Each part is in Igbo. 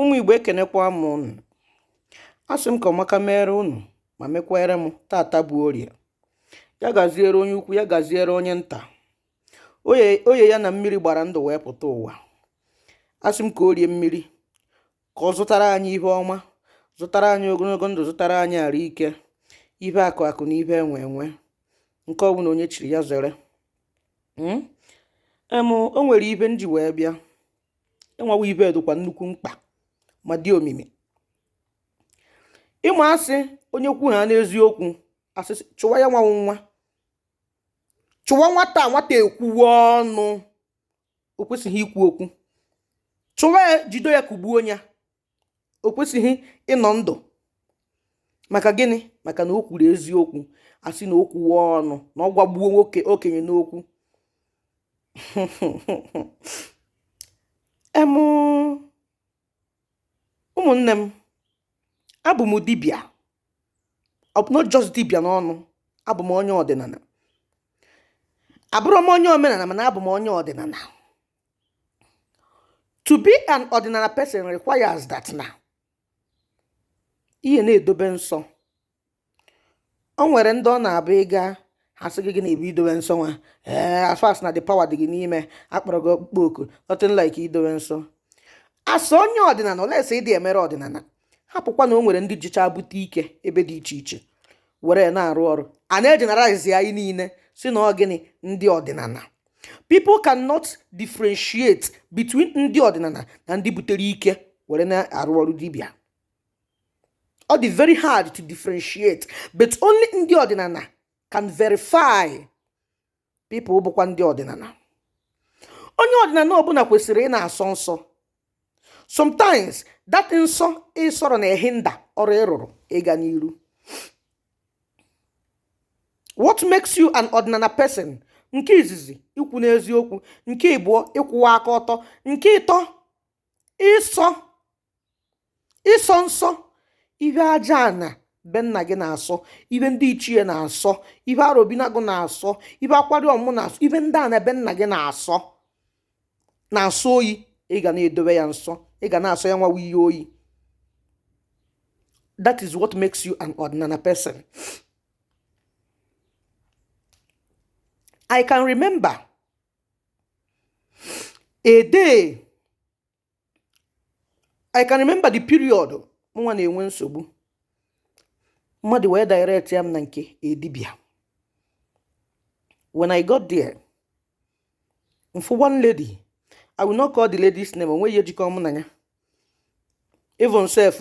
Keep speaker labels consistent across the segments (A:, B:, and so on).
A: ụmụ igbo ekenekwa m ụnụ asị m ka ọmaka mere ụnụ ma mekwere m tata bụ orie ya gaziere onye ukwu ya gaziere onye nta oye ya na mmiri gbara ndụ wee pụta ụwa asị m ka orie mmiri ka ọ zụtara anyị ihe ọma zụtara anyị ogologo ndụ zụtara anyị arụ ike ihe akụ akụ na ihe enwe enwe nke ọbụla onye chiri ya zere hmm? em o nwere ihe m ji wee bịa ịnwawa ihe dịkwa nnukwu mkpa ma dị omimi ị ma asị onye kwu ha n'eziokwu asị chụwa ya nwanwụ nwa chụwa nwata nwata ekwuwe ọnụ o kwesịghị ikwu okwu chụwa ya jide ya kugbuo ya o kwesịghị ịnọ ndụ maka gịnị maka na o kwuru eziokwu asị na o kwuwe ọnụ na ọ gwagbuo okenye n'okwu em ụmụnne m abụ m dibịa not just dibịa n'ọnụ abụ m onye ọdịnala abụrụ m onye omenala mana abụ m onye ọdịnala to be an ọdịnala person requires that na ị ya na-edobe nsọ o nwere ndị ọ na-abụ ị gaa ha sị gị gịnị bụ idobe nsọ nwa ee as far as na the power dị gị n'ime a kpọrọ gị ọkpụkpọ oku nothing like idobe nsọ as onye ọdịnala unless ị dị emere ọdịnala hapụkwa na o nwere ndị jicha bute ike ebe dị iche iche were na-arụ ọrụ a na-ejeneralize anyị niile sị na ọ gịnị ndị ọdịnala people cannot differentiate between ndị ọdịnala na ndị butere ike were na-arụ ọrụ dibịa ọ dị very hard to differentiate but only ndị ọdịnala can verify people bụkwa ndị ọdịnala onye ọdịnala ọbụla kwesịrị ị na-asọ nsọ sometimes that nsọ ị sọrọ na-ehinder ọrụ ị rụrụ ịga n'iru what makes you an ọdịnala person nke izizi ikwu n'eziokwu nke ịbụọ ịkwụwa aka ọtọ nke ịtọ ịsọ ịsọ nsọ ihe ajaana be nna gị na-asọ ihe ndị ichie na-asọ ihe arobinagụ na-asọ ihe akwari ọmụ na-asọ ihe ndị a na be nna gị na-asọ na-asọ oyi ị ga na-edobe ya nsọ ị ga na-asọ ya nwawa ihe oyi that is what makes you an ọdịnala person i can remember a day i can remember the period mụnwa na-enwe nsogbu mmadụ wee directịa m na nke dibịa when i got there m fụ one lady i will not call the lady's name o nwe ihe jikọ mụ na ya even self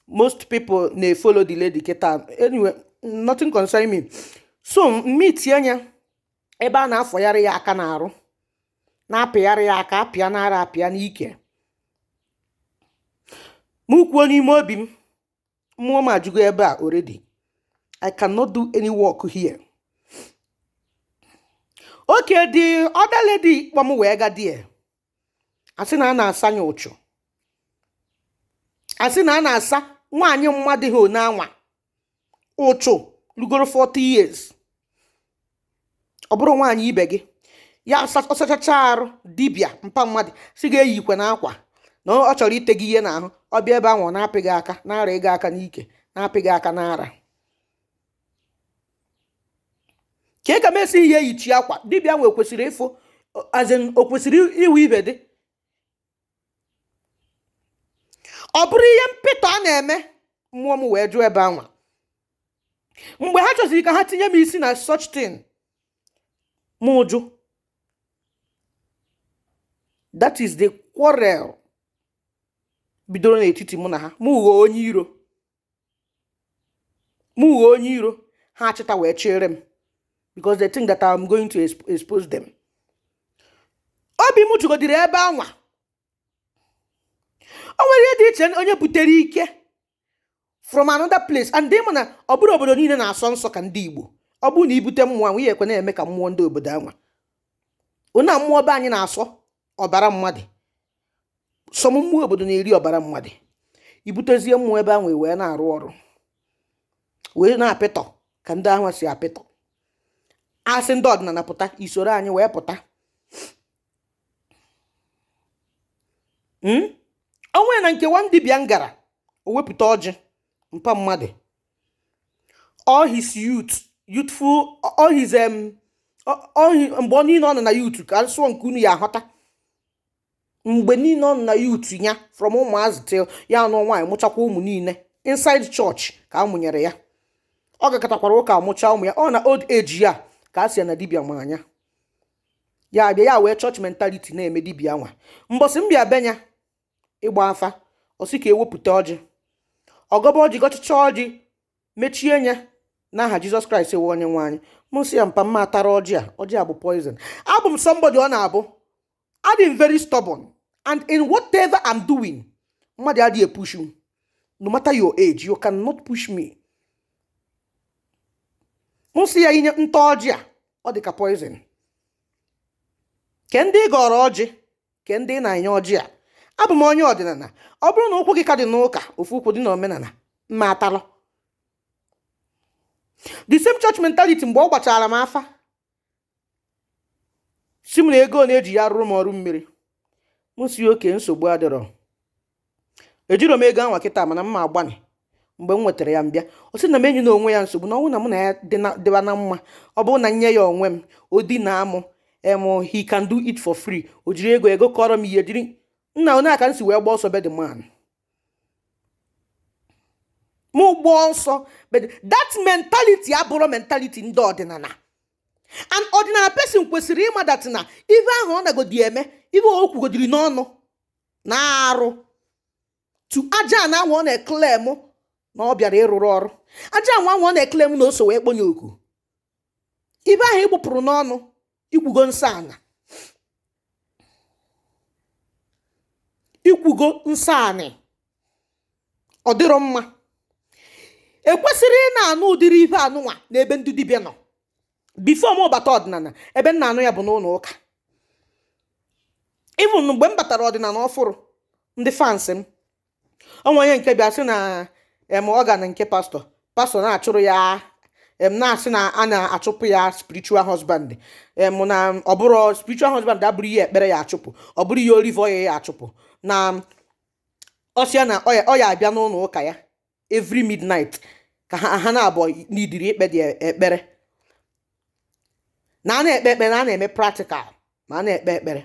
A: most people na-efollow the lady kịta anyway nothing concern me so m meetịa nya ebe a na-afọgharị ya aka n'arụ na-apịgharị ya aka a pịa n'ara a pịa n'ike m kwuo n'ime obi m mmụọ m ajụgo ebe a already i cannot do any work here okay the other lady kpọ m wee gaa there a sị na a na-asa ya uchu a sị na a na-asa nwaanyị mmadụ ha onye anwa uchu rugoro 40 years ọ bụrụ nwaanyị ibe gị ya ọ sachacha arụ dibịa mpa mmadụ sị gị eyikwena akwa na ọ chọrọ ite gị ihe n'ahụ ọ bịa ebe ahụ wee na-apị gị aka na-ara gị aka n'ike na-apị gị aka n'ara ka e ka m esi ihe eyichi akwa dibịa nwe kwesịrị ịfụ as in o kwesịrị iwu ibe dị ọ bụrụ ihe mpịtọ a na-eme mmụọ m wee jụ ebe anwa mgbe ha chọziri ka ha tinye m isi na such thing mụ jụ that is the quarrel bidoro n'etiti mụ na ha m ghọọ onye iro m ghọọ onye iro ha achịta wee chere m because they think that I'm going to exp- expose them obi m jụgodịrị ebe anwa o nwere ihe dị iche onye butere ike from another place and ị ma na ọ bụrọ obodo niile na-asọ nsọ ka ndị Igbo ọ bụrụ na i bute mmụọ anwa ihe ekwe na-eme ka mmụọ ndị obodo anwa ọ na mmụọ be anyị na-asọ ọbara mmadụ some mmụọ obodo na-eri ọbara mmadụ i butezie mmụọ ebe ahụ wee na-arụ ọrụ wee na-apịtọ ka ndị ahụ si apịtọ a sị ndị ọdịnala pụta i soro anyị wee pụta hmm? o nwe na nke one dibịa m gara o wepụta ọjị mpa mmadụ all his youth youthful all his um all his mgbe ọ niile ọ nọ na youth ka m sụọ nke unu ya-ahọta mgbe niile ọ nọ na youth ya from ụmụazị till ya anụ nwaanyị mụchakwa ụmụ niile inside church ka a mụnyere ya ọ gakatakwara ụka mụchaa ụmụ ya ọ na old age ya ka a sị ya na dibịa ma nya ya bịa ya wee church mentality na-eme dibịa nwa mbọsị m bịa be nya ịgba afa ọ sị ka e wepụta ọjị ọ gọba ọjị gọchịcha ọjị mechie anya n'aha jizọs kraịst ewe onye nwe anyị mụ sị ya mpa mma atara ọjị a ọjị a bụ poison abụ m somebody ọ na-abụ adị m very stubborn and in whatever I'm doing mmadụ adịghị epush m no matter your age you cannot push me mụ sị ya i nye m taa ọjị a ọ dị ka poison ke ndị ị gọọrọ ọjị ke ndị ị na-enye ọjị a abụ m onye ọdịnala ọ bụrụ na ụkwụ gị ka dị n'ụka ofu ụkwụ dị n'omenala mma atalụ the same church mentality mgbe ọ gbachara m afa sị m na ego na-eji ya rụrụ m ọrụ mmiri mụ sị okay nsogbu adịrọ ejirọ m ego anwa kịta mana mma agbanị mgbe m nwetara ya m bịa ọ sị na m enyena onwe ya nsogbu na ọ bụrụ na mụ na ya dịba na mma ọ bụrụ na m nye ya onwe m o dina mụ em he can do it for free o jiri ego ego kọrọ m ihe jiri nna ọ nya ka m si wee gbaa ọsọ be the man mụ gbaa ọsọ but that mentality abụrọ mentality ndị ọdịnala an ọdịnala person kwesịrị ịma that na ife ahụ ọ nagodi eme ife o kwugodiri n'ọnụ na arụ to aja ana nwa ọ na-eclaim na ọ bịara ịrụrụ ọrụ aja ana nwa ọ na-eclaim na o so wee kponye oku ife ahụ ị gbụpụrụ n'ọnụ i kwugo nsọ ana i kwugo nsọ anị ọ dịrọ mma ekwesịrọ ị na-anụ ụdịrị ife anụnwa n'ebe ndị dibịa nọ before m bata ọdịnala ebe m na-anụ ya bụ n'ụlọ ụka even mgbe m batara ọdịnala ọfụrụ ndị fans m o nwe onye nke bịa sị na em ọ ga na nke pastọ pastọ na-achụrụ ya em na-asị na a na-achụpụ ya spiritual husband em na ọ bụrụ spiritual husband abụrọ ihe ekpere ya achụpụ ọ bụrọ ihe olive oil ya achụpụ na ọ sị ya na ọ ya ọ ya abịa n'ụlọ ụka ya every midnight ka ha ha na abụọ nọdịrị ikpe the ekpere na a na-ekpe ekpere na a na-eme practical ma a na-ekpe ekpere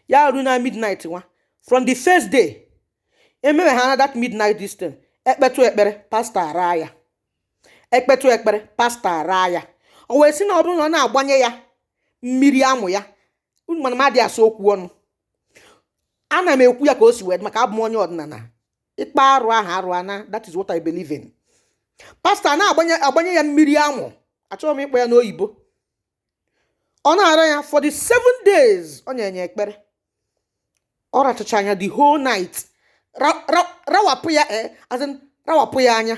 A: ya ruo na midnight nwa from the first day emewe ha na that midnight distance ekpetụ ekpere pastọ ara ya ekpetụ ekpere pastọ ara ya o wee sị na ọ bụrụ na ọ na-agbanye ya mmiri amụ ya unu ma na m adị asọ okwu ọnụ ana m ekwu ya ka o si wee dị maka abụ m onye ọdịnala ị kpọọ arụ aha arụ anaa that is what I believe in pastọ na-agbanye agbanye ya mmiri amụ achọghị m ịkpọ ya n'oyibo ọ na-ara ya for the seven days ọ na-enye ekpere ọ rachacha anya the whole night rawapụ ya eh, as in rawapụ ya anya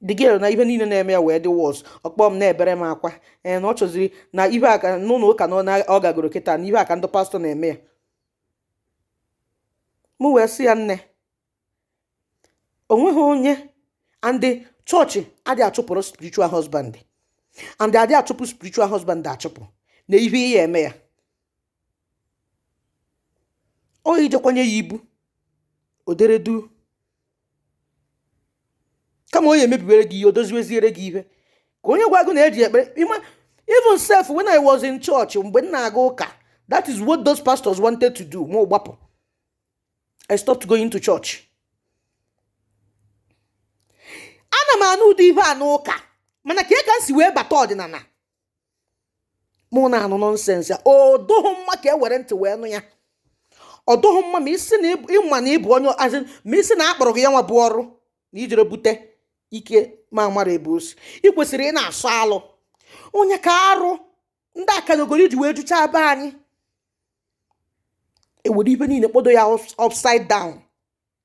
A: the girl na ihe niile na-eme ya wee dị worse ọ kpọọ m na-ebere m akwa ee eh, na ọ chọziri na ihe a ka n'ụlọ ụka na ọ gagoro kịta na ihe a ka ndị pastọ na-eme ya m wee sị ya nne o nweghị onye and ndị chọọchị adị achụpụrụ spiritual husband and adị achụpụ spiritual husband achụpụ na ihe ya-eme ya ọ ijekwanye ya ibu o dere duu kama onye emebiwere gị ihe o doziweziere gị ihe ka onye gwa gị na e ji ekpere ịma even sef when i was in church mgbe m na-aga ụka that is what those pastors wanted to do mụ gbapụ i stopped going to church ana m anụ ụdị ihe a n'ụka mana ka e ka m si wee bata ọdịnala mụ na-anụ nonsense ya ọ dụghị mma ka e were ntị wee nụ ya ọ dụghị mma ma ị sị na ị ma na ị bụ onye azị ma ị sị na a kpọrọ gị ya nwa bụ ọrụ na i jere bute ike ma mara ebe o si ị kwesịrị ịna-asọ alụ onye ka arụ ndị akanogori ji wee juchaa be anyị e were ive niile kpodo ya upside down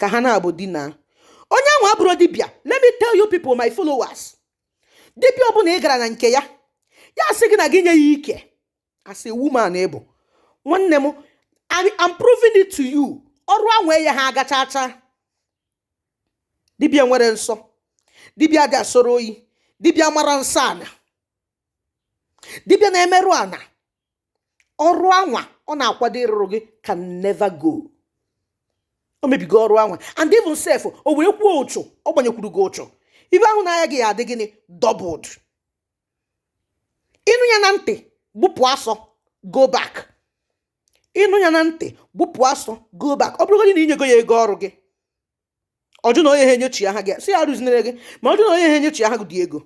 A: ka ha na-abụ dina onye ahụ abụrụ dibịa let me tell you people my followers dibịa ọbụla ị gara na nke ya ya sị gị na gị nye ya ike as a woman ị bụ nwanne m I'm proving it to you ọrụ anwa yaha aga chacha dibịa nwere nsọ dibịa dị asọrọ oyi dibịa mara nsọ ana dibịa na-emerụ ana ọrụ anwa ọ na-akwado ịrụrụ gị can never go o mebigo ọrụ anwa and even sef o wee kwuo uchu ọ gbanyekwuru gị uchu ive ahụ na-aya gị ya-adị gịnị doubled ị nụ ya na ntị gbụpụ asọ go back ị nụ ya na ntị gbụpụ asọ go back ọ bụrụgodị na i nyego ya ego ọrụ gị ọ jụ na ọ yaha enyechigha gị sị ya rụzinere gị ma ọ jụ na ọ yaha enyechigha gị the ego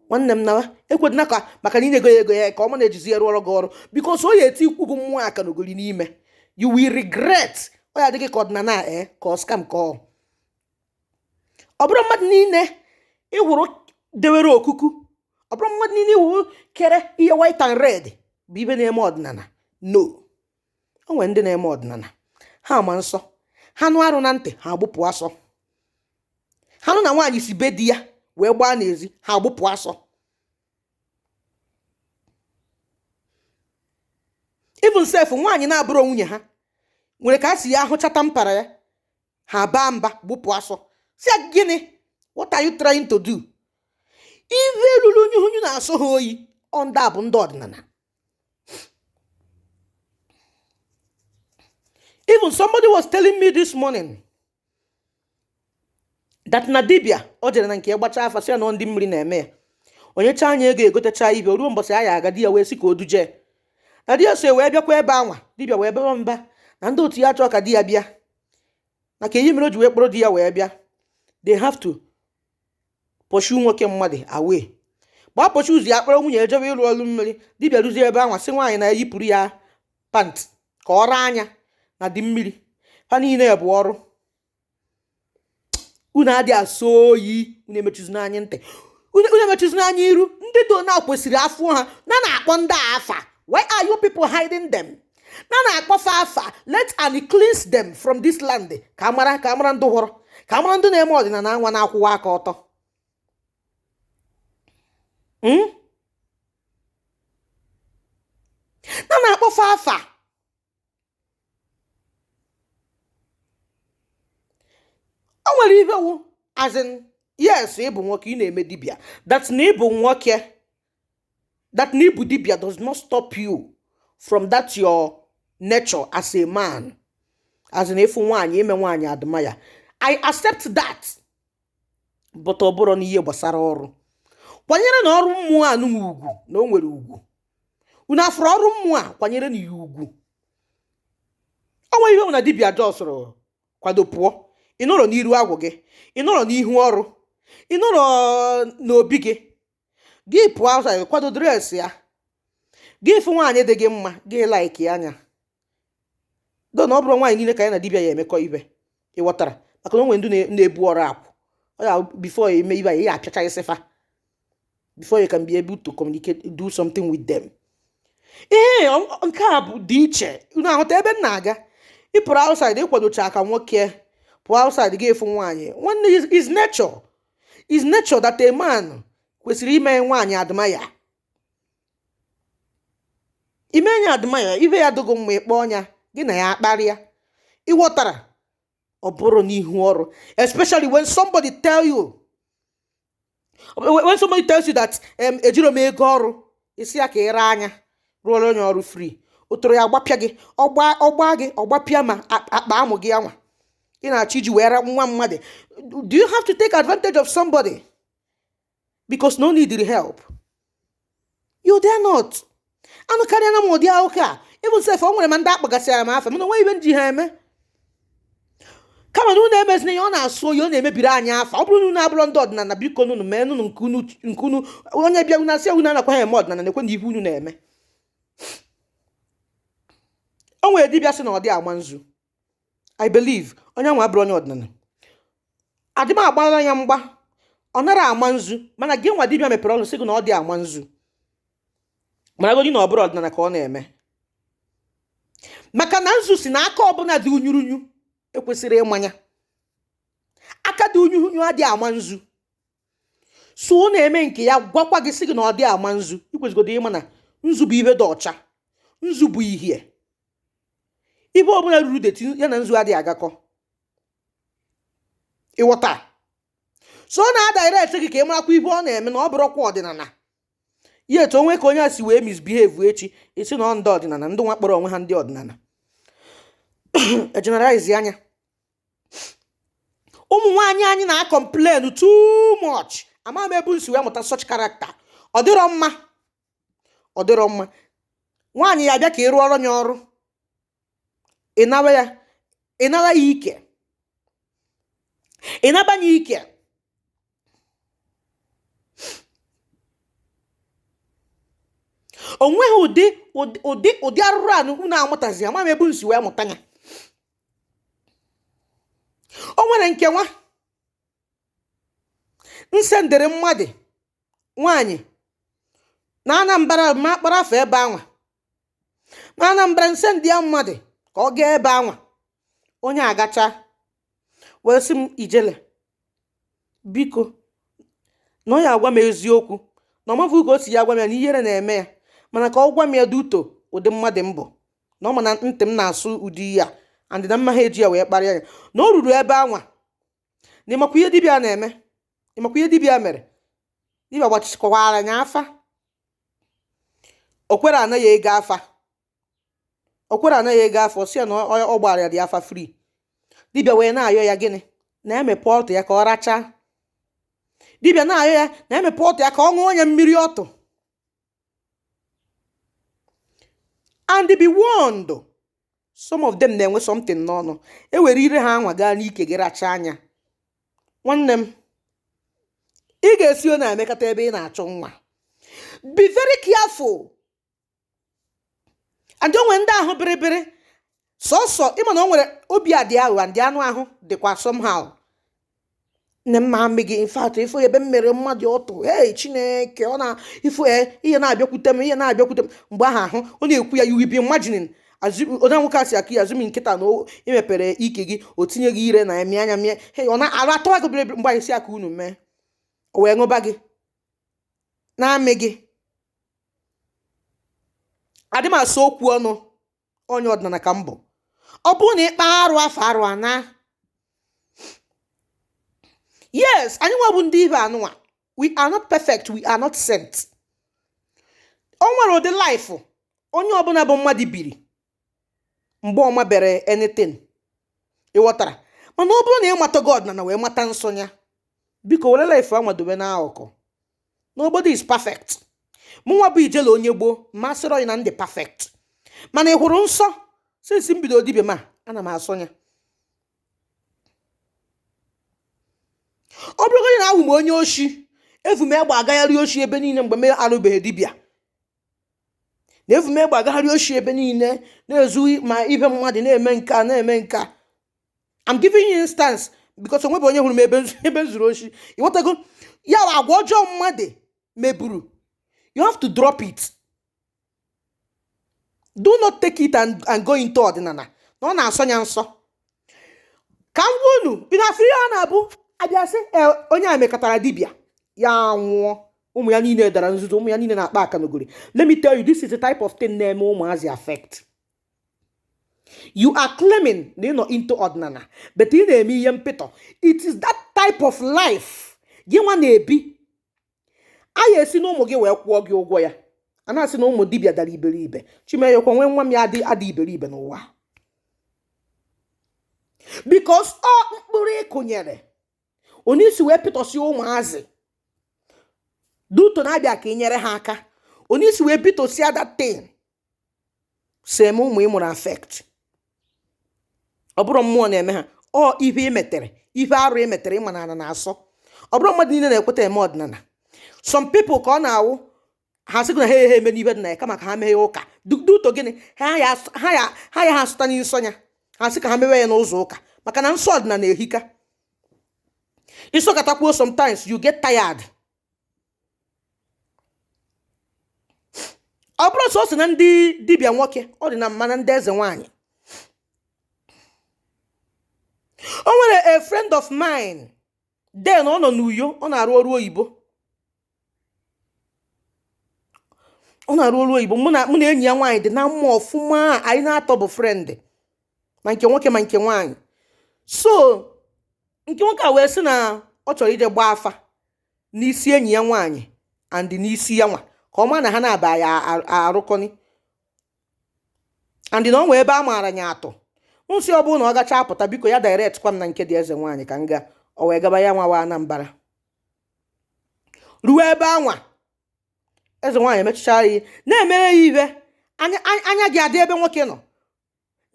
A: nwanne m nawa ekwedịna ka maka na i nyego ya ego ya ka ọ ma na-ejizi ya rụọrọ gị ọrụ because ọ ya-etiikwu gị mmụọ akanogori n'ime you will regret ọ ya-adị gị ka ọdịnala e eh, ka ọ scam ka ọ ọ bụrọ mmadụ niile ị hụrụ dewere okuku ọ bụrọ mmadụ niile ị hụ kere ihe white and red bụ ive na-eme ọdịnala no o nwere ndị na-eme ọdịnala ha ma nsọ ha nụ arụ na ntị ha agbụpụ asọ ha nụ na nwaanyị si be di ya wee gbaa n'ezi ha agbụpụ asọ even sef nwaanyị na-abụrọ nwunye ha nwere ka a si ya ahụchata mpara ya ha baa mba gbụpụ asọ sị ya gịnị what are you trying to do ive lulu unyi na-asọ ha oyi ọ ndị a bụ ndị ọdịnala Even somebody was telling me this morning that na dibia o jere na nke ya gbachaa afa sị ya na ọ ndị mmiri na-eme ya o nyechaa nya ego egotecha ife o ruo mbọsị a ya-aga di ya wee sị ka o duje na di ya so wee bịakwa ebe anwa dibia wee bawa mba na ndị otu ya achọọ ka di ya bịa na kee ihe mere o ji wee kpọrọ di ya wee bịa they have to pursue nwoke mmadụ away gbaa pursue ụzọ ya kpọrọ nwunye ya jebe ịrụ ọrụ mmiri dibịa ruzie ebe anwa sị nwaanyị nya yipụrụ ya pant ka ọ raa nya na ndị mmiri ha niile bụ ọrụ unu adị asọ oyi unu emechuzina anyị ntị unu emechuzina anyị iru ndị do na kwesịrị a fụ ha na na-akpọ ndị a afa why are you people hiding them na na-akpọ fa afa let and cleanse them from this land ka a mara ka a mara ndị fọrọ ka a mara ndị na-eme ọdịnala anwa na-akwụwa aka ọtọ hmm? na na-akpọ fa afa o nwere ihe wu as in yes ịbụ nwoke ị na-eme dibia that na ịbụ nwoke that na ịbụ dibia does not stop you from that your nature as a man as in ịfụ nwaanyị ime nwaanyị admire i accept that but ọ bụrụ na ihe gbasara ọrụ kwanyerenụ ọrụ mmụọ a nụnwa ugwu na o nwere ugwu unu afụrụ ọrụ mmụọ a kwanyerenụ ya ugwu o nweghị ihe ọ bụla dibia jọsụrụ kwado pụọ ị nọrọ n'iru agwụ gị ị nọrọ n'ihu ọrụ ị nọrọ n'obi gị gị pụọ outside kwado dress ya gị fụ nwaanyị dị gị mma gị like nya though na ọ bụrọ nwaanyị niile ka ya na dibịa ya emekọ ife ị ghọtara maka na o nwe ndị na-ebu ọrụ akwụ ọ ya before ị ya-eme ife ị ya-apịacha isi fa before you can be able to communicate do something with them ee nke a bụ dị iche unu aghọta ebe m na-aga ị pụrụ outside ị kwadochaa ka nwoke pụọ outside gị afụ nwaanyị nwanne is nature is nature that a man kwesịrị ime nwaanyị admire ime nya admire ife ya dị gị mma ị kpọọ nya gị na ya akparịa ị ghọtara ọ bụrụ n'ihu ọrụ especially when somebody tell you when somebody tells you that um, ejirọ m ego ọrụ ị sị ya ka ị raa nya rụọrọ nya ọrụ free ọtọrọ ya-agbapịa gị ọ gbaa gị ọ gbapịa ma akpa amụ gị anwa ị na-achọ iji wee ra nwa mmadụ do you have to take advantage of somebody because na ọ need the help you dare not anụkarịana m ụdị ụka a even sef o nwere ma ndị a kpọgasịara m afa mana o nwe ihe m ji ha eme kama na unu emezina ihe ọ na-asọ oyi ọ na-emebiri anyị afa ọ bụrụ na unu abụrọ ndị ọdịnala biko nunu mee nunu nke unu nke unu onye bịa unu asị unu anakwa ha eme ọdịnala nekwenụ ihe unu na-eme o nwere dibịa sị na ọ dị ama nzu i believe onye anwa abụrọ onye ọdịnala adị m agbara ya mgba ọ nara ama nzu mana gị nwa dibịa mepere ọnụ sị gị na ọ dị ama nzu mana godi na ọ bụrọ ọdịnala ka ọ na-eme maka na nzu sị na aka ọbụla dị unyurunyu ekwesịrọ ịma ya aka dị unyurunyu adịghị ama nzu so ọ na-eme nke ya gwakwa gị sị gị na ọ dị ama nzu ikwesịgodo ịma na nzu bụ ihe dị ọcha nzu bụ ihie ihe ọbụla ruru dirty ya na nzu adịghị agakọ ị ghọta so ọ na-adirect gị ka ị marakwa ihe ọ na-eme na ọ bụrọkwa ọdịnala yet o nwe ka onye a si wee misbehave echi ị sị na ọ ndị ọdịnala ndị nwa kpọrọ onwe ha ndị ọdịnala egeneralize ya ụmụ nwaanyị anyị na-acomplain too much ama m ebe unu si wee mụta such character ọ dịrọ mma ọ dịrọ mma nwaanyị ya abịa ka ị rụọrọ ya ọrụ ịnara ya ịnara ya ike ịnaba ya ike o nweghị ụdị ụdị ụdị arụrụala unu amụtazi ama m ebe unu si wee mụta ya o nwere nke nwa m sendịrị mmadụ nwaanyị na anambra ma akpọrọ afa ebe anwa na anambra m sendị ya mmadụ ka ọ gaa ebe anwa onye a gachaa wee sị m ijele biko na ọ ya agwa m eziokwu na ọ mafughị ka o si ya agwa m ya na ihere na-eme ya mana ka ọ gwa m ya due to ụdị mmadụ mbụ na ọ ma na ntị m na-asọ ụdị ihe a and na m maha eji ya wee kparịa ya na o ruru ebe anwa na ịmakwa ihe dibịa na-eme ịmakwa ihe dibịa mere dibịa gbachakwara ya afa o kwerọ ana ya ego afa o kwerọ ana ya ego afa sị ya na ọ gbara ya the afa free dibịa wee na-ayọ ya gịnị na emepe ọtụ ya ka ọ rachaa dibịa na-ayọ ya na emepe ọtụ ya ka ọ ṅụọ ya mmiri ọtụ and be warned some of them na-enwe something n'ọnụ e were ire ha anwa gaa n'ike gị rachaa ya nwanne m ị ga-esi ọ na-emekata ebe ị na-achọ nwa be very careful and o nwere ndị ahụ bịrịbịrị sọsọ ịma na o nwere obi adị aghụghọ ndị anụ ahụ dịkwa somehow nne m ma gị in fact ị fụ ebe m mere mmadụ ọtụ ee chineke ọ na ifo e, ihe na-abịakwute m ihe na-abịakwute m mgbe ahụ ahụ ọ na-ekwu ya you will be imagining onye nwoke asị aka ya azụmi nkịta na-emepere ike gị o tinye gị ire na-emi anya mie he ọ na-arụ atọwa gị bịrịbịrị mgbe anyị si aka unu mee o wee ṅụba gị na-amị gị adị m asọ okwu ọnụ onye ọdịnala ka m bụ ọ bụrụ na ị kpa arụ afọ arụ ana yes anyị nwa bụ ndị dibịa nụnwa we are not perfect we are not saint o nwere ụdị life onye ọbụla bụ mmadụ biri mgbe ọ mabere anything ị ghọtara mana ọ bụrụ na ị matago ọdịnana wee mata nsọ ya biko were life anwa dowe n'akụkụ nobody is perfect mụnwa bụ ijele onye gboo m asịrọ gị na m dị perfect mana ị hụrụ nsọ since m bido dibia ma ana m asọ ya ọ bụrụgodị na awụ m onye oshi evu m egbe agagharị oshi ebe niile mgbe m arụbeghị dibia na evu m egbe agagharị oshi ebe niile na-ezu ma ihe mmadụ na-eme nke a na-eme nke a I'm giving you instance because o nwebe onye hụrụ m ebe nzu- ebe m zuru oshi ị ghọtago ya bụ agwa ọjọọ mmadụ meburu you have to drop it do not take it and, and go into ọdịnala na ọ na-asọ ya nsọ ka m gwa unu ị na-afụ ihe a na-abụ a bịa sị "Ee, onye a mekatara dibịa ya nwụọ ụmụ ya niile dara nzuzu ụmụ ya niile na-akpa akanogori let me tell you this is the type of thing na-eme ụmụazị affect you are claiming na ị nọ into ọdịnala but ị na-eme ihe mpịtọ it is that type of life gị nwa na-ebi a ya-esi na ụmụ gị wee kwụọ gị ụgwọ ya a na-asị na ụmụ dibịa dara iberibe chimeyekwa nwee nwa m ya adị ada iberibe n'ụwa because ọ mkpụrụ ị kụnyere onye i si wee pịtọsi ụmụazị due to na ha bịa ka ị nyere ha aka onye i si wee pịtọsịa that thing so eme ụmụ ị mụrụ affect ọ bụrọ mmụọ na-eme ha ọ ihe ị metere ihe arụ ị metere ị ma na ana na-asọ ọ bụrọ mmadụ niile na-ekweta eme ọdịnala some people ka ọ na-awụ ha sịgo na ha ehe eme n'ibe dị na ya kama ka ha mee ụka due to gịnị ha ya ha asọta nsọ ya ha sị ka ha mewe ya n'ụzọ ụka maka na nsọ ọdịnala ehika ị sọkatakwuo sometimes you get tired Ọ bụrọ sọsọ na ndị dibịa nwoke ọ dị na ma na ndị eze nwanyị o nwere a friend of mine then ọ nọ n'Uyo ọ na-arụ ọrụ oyibo ọ na-arụ ọrụ oyibo mụ na mụ na enyi ya nwaanyị dị na mma ọfụma anyị n'atọ bụ friend ma nke nwoke ma nke nwaanyị so nke nwoke a wee sị na ọ chọrọ ije gbaa afa n'isi enyi ya nwaanyị and n'isi ya nwa ka ọ maa na ha naabọ ya-arụkọni and na o nwee ebe a maara ya atụ m sị ọ bụrụ na ọ gacha apụta biko ya direct kwa m na nke dị eze nwaanyị ka m gaa o wee gaba ya nwa wa Anambra ruo ebe anwa eze nwaanyị emechichara ya na-emere ya ibe anya gị adị ebe nwoke nọ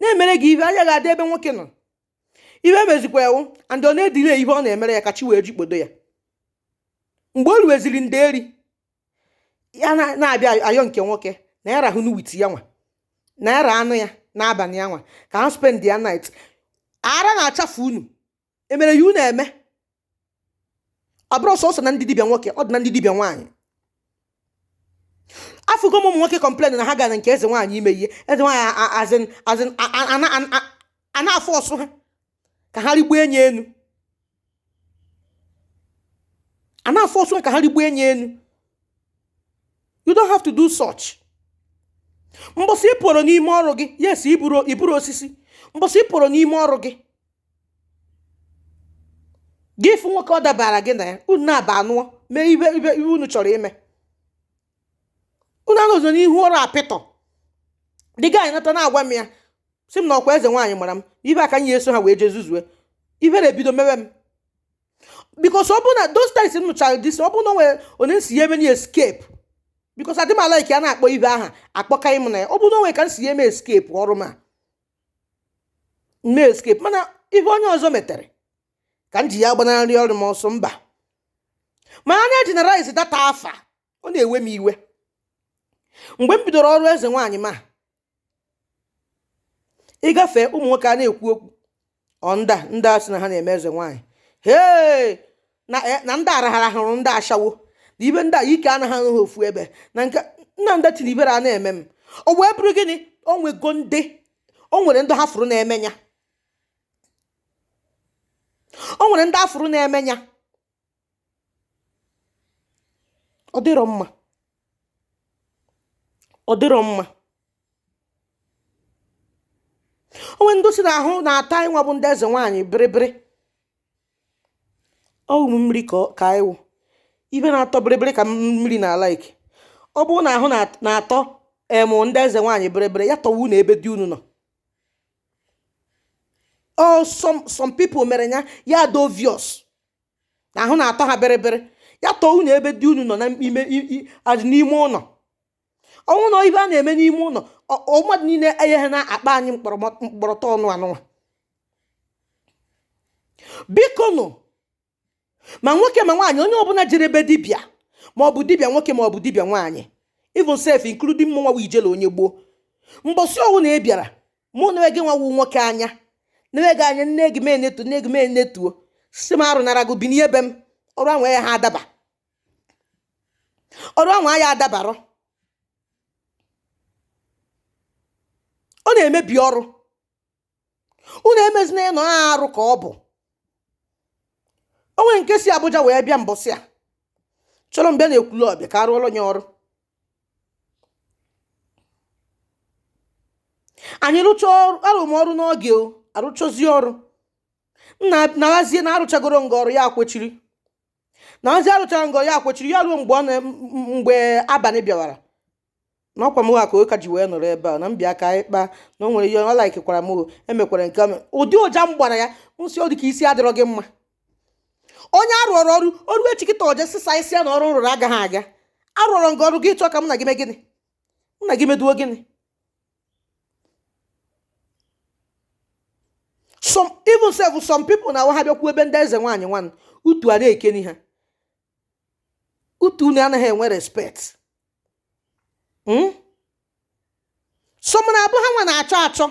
A: na-emere gị ibe anya gị adị ebe nwoke nọ ibe mezikwa ewu and ọ na-edelay ihe ọ na-emere ya ka chi wee jikpodo ya mgbe o ruweziri nderi ya na-abịa ayọ nke nwoke na ya rahụnụ with ya nwa na ya raanụ ya n'abalị ya nwa ka ha spend ya night ara na-achafu unu e mere ya unu eme ọ bụrọ sọsọ na ndị dibịa nwoke ọ dị na ndị dibịa nwaanyị afụgo m ụmụ nwoke complain na ha gara nke eze nwaanyị ime ihe eze nwaanyị as in a na-aforce ha ka ha rigbuo enyi enu a na-aforce ha ka ha rigbuo enyi enu you don't have to do such mbọsị ị pụrụ n'ime ọrụ gị yes ị bụrọ osisi mbọsị ị pụrụ n'ime ọrụ gị gị fụ nwoke ọ dabara gị na ya unu naabọ anụọ mee ibe ibe ihe unu chọrọ ime unu anọzọ n'ihu ọrụ apịtọ the guy anata na-agwa m ya sị m na ọkwa eze nwaanyị mara m ibe aka nye eso ha wee jee zuzue ibe na-ebido mewe m because ọ bụ na those times m nụchara this ọ bụ na o nwe onye m si ya eme na escape because adị m alike a na-akpọ ibe aha akpọkaghị m na ya ọ bụ na o nwe ka m si ya eme escape ọrụ m a mee escape mana ihe onye ọzọ metere ka m ji ya gbanarị ọrụ m ọsọ mba ma a na-egeneralize that afa ọ na-ewe m iwe mgbe m bidoro ọrụ eze nwaanyị ma ị gafe ụmụ nwoke a na-ekwu okwu under ndị a sị na ha na-eme eze nwaanyị hee na eh, na ndị arahara hụrụ ndị ashawo na ibe ndị a ike anaghị eru ha ofu ebe na nke nna ndị tiri ibere a na-eme m o wee bụrụ gịnị o nwego ndị o nwere ndị ha fụrụ na-eme ya o nwere ndị a fụrụ na-eme ya ọ dịrọ mma ọ dịrọ mma o nwe ndị si na ahụ na-ata ịnwa bụ ndị eze nwaanyị bịrịbịrị ọ wụ̀ m mmiri kà ọ kà ị wụ̀ ibe na-atọ biri biri kà mmiri nà like ọ bụrụ nà àhụ na-àtọ èmù ndị ezè nwaànyị̀ biri biri ya tọ̀wa unù ebe di unù nọ̀ ọ some some people mèrè ya ya dị obvious nà àhụ na-àtọ ha biri biri ya tọ̀wa unù ebe di unù nọ̀ na ime i i àzị̀ n'ime ụnọ̀ ọ wụ na ibe a na-eme n'ime ụlọ mmadụ niile enyeghị na akpa anyị mkpọrọta ọnụ anụnwa biko nụ ma nwoke ma nwaanyị onye ọbụla jere ebe dibịa ma ọ bụ dibịa nwoke ma ọ bụ dibịa nwaanyị even sef including mụ nwa ijele onye gboo mbọsị ọwụna ị bịara mụ na gị nwawu nwoke anya nne gị anya nne gị mee netu nne gị mee netuo si m arụ nara gị bi n'ebe m ọrụ ahụ yaha adaba ọrụ ahụ aya adabarọ ọ na-emebi ọrụ unu emezina ya na ọ arụ ka ọ bụ o nwe nke si Abuja wee bịa mbọsị a chọrọ m bịa na Ekwulobia ka a rụọra ya ọrụ anyị rụcha ọrụ arụ m ọrụ n'oge o a rụchazie ọrụ m na-ahazie na a rụchagoro ngị ọrụ ya akwechiri na ọzi a rụchara ngị ọrụ ya kwechiri ya ruo mgbe ọ na- m- m- mgbe abalị bịawara na ọkwa m ka ọ ka ji wee nọrọ ebe a na m bịa ka anyị kpaa na o nwere ihe ọ laikikwara m o, emekwara nke ọma. ụdị ụja m gbara ya m sị ọ dị ka isi adịrọ gị mma onye a rụọrọ ọrụ o ruo echi kịta o je sịsa isi ya na ọrụ m rụrụ agaghị aga a rụọrọ gị ọrụ gị chọọ ka mụ na gị mee gịnị mụ na gị meduo gịnị some even sef some people na-awụ ha bịakwu ebe ndị eze nwaanyị nwanụ utu ana-ekeni ha utu unu anaghị enwe respect hmm? some na-abụ ha nwa na-achọ achọ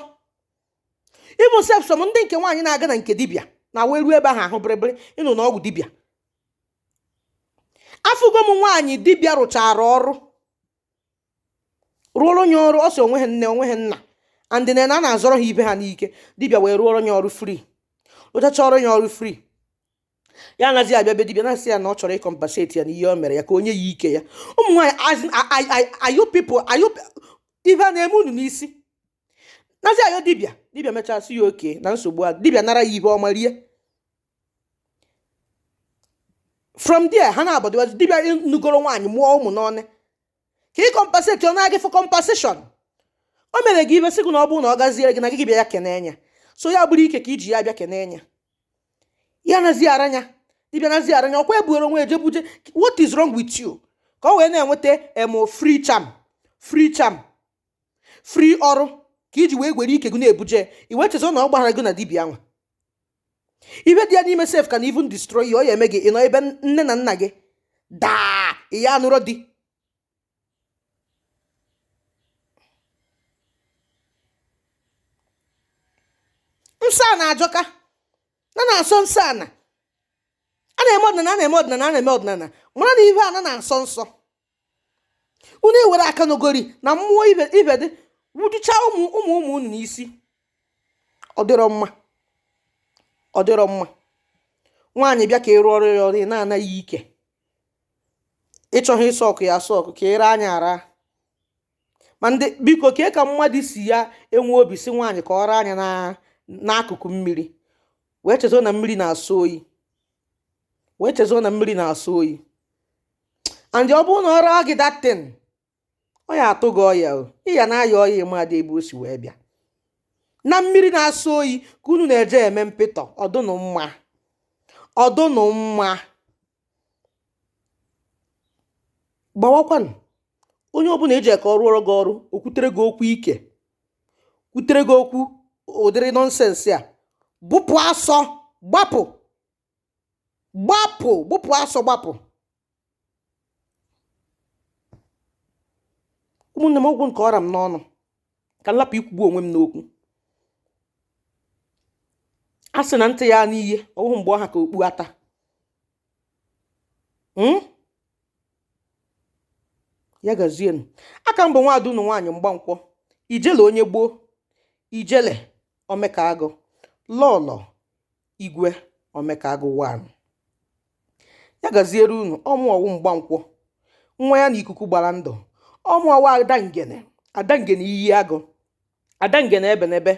A: even sef some ndị nke nwaanyị na-aga na nke dibịa na wee ruo ebe ahụ ahụ bịrịbịrị ịnụ na ọgwụ dibịa afụgo m nwaanyị dibịa rụchara ọrụ rụọrọ ya ọrụ ọ sị o nweha nne o nweha nna and na a na-azọrọ ha ibe ha n'ike dibịa wee rụọrọ ya ọrụ free rụchacha ọrụ ya ọrụ free ya anaghị abịa be dibịa na-asị ya na ọ chọrọ ịcompensate ya na ihe o mere ya ka o nye ya ike ya ụmụ nwaanyị are you people are you ibe a na-eme unu n'isi nazi are you dibịa dibịa mechaa sị ya okay na nsogbu a dibịa nara ya ibe ọma rie from there ha nabọ dịwazi dibịa nụgoro nwaanyị mụọ ụmụ n'ọnụ ka ị compensate ọ na gị for compensation o mere gị ibe sị gị na ọ bụrụ na ọ gaziere gị na gị bịa ya kenee nya so ya bụrụ ike ka i ji ya bịa kenee nya ya nazi ara nya dibịa nazi ara nya ọkwa i buuru onwe gị buje what is wrong with you ka ọ wee na-enweta em free charm free charm free ọrụ ka i ji wee gwere ike gị na-ebuje i wee chezọ na ọ gbahara gị na dibịa nwa ihe dị ya n'ime sef can even destroy you ọ ya eme gị ị nọ ebe nne na nna gị daa ya anụrụ di nsọ ana ajọka na na-asọ nsọ ana a na-eme ọdịnala a na-eme ọdịnala a na-eme ọdịnala mara na ihe ana na-asọ nsọ unu ewere akanogori na mmụọ ibe ibe dị wujuchaa ụmụ ụmụ ụmụ unu n'isi ọ dịrọ mma ọ dịrọ mma nwaanyị bịa ka ị rụọrọ ya ọrụ ị na-ana ya ike ị chọgha ịsọ ọkụ ya asọ ọkụ ka ị raa nya ara ma ndị biko kee ka mmadụ si ya enwe obi sị nwaanyị ka ọ raa nya n'akụkụ mmiri wee chezo na mmiri na-asọ oyi wee chezo na mmiri na-asọ oyi and ọ bụrụ na ọ raa gị that thing ọ ya atụ gị ọya o ị ya na-aya ọya ị madị ebe o si wee bịa na mmiri na-asọ oyi ka unu na-eje eme mpịtọ ọ dụnụ mma ọ dụnụ mma gbawakwanụ onye ọbụla ị je ka ọ rụọrọ gị ọrụ o kwutere gị okwu ike kwutere gị okwu ụdịrị nonsense a bụpụ asọ gbapụ gbapụ bụpụ asọ gbapụ ụmụnne m ọ gwụ nke ọ ra m n'ọnụ ka m lapụ ikwugbu onwe m n'okwu a sị na ntị ya anụ ihe ọ wụhụ mgbe ọ ha ka okpu ata hmm? ya gazienu aka m bụ nwaada unu nwaanyị mgbankwọ ijele onye gboo ijele omekaagụ lọlọ igwe omekaagụ one ya gaziere unu ọ mụa wụ mgbankwọ nwa ya na ikuku gbara ndụ ọ mụa wụ ada ngene ada ngene iyi agụ ada ngene ebenebe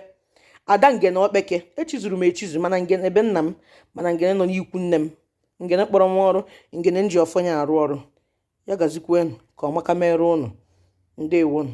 A: ada ngene okpeke echizuru m echizu ma na ngene be nna m ma na ngene nọ n'ikwu nne m ngene kpọrọ m ọrụ ngene m ji ọfọ nya arụ ọrụ ya gazikwenu ka ọmaka mere unu ndewonụ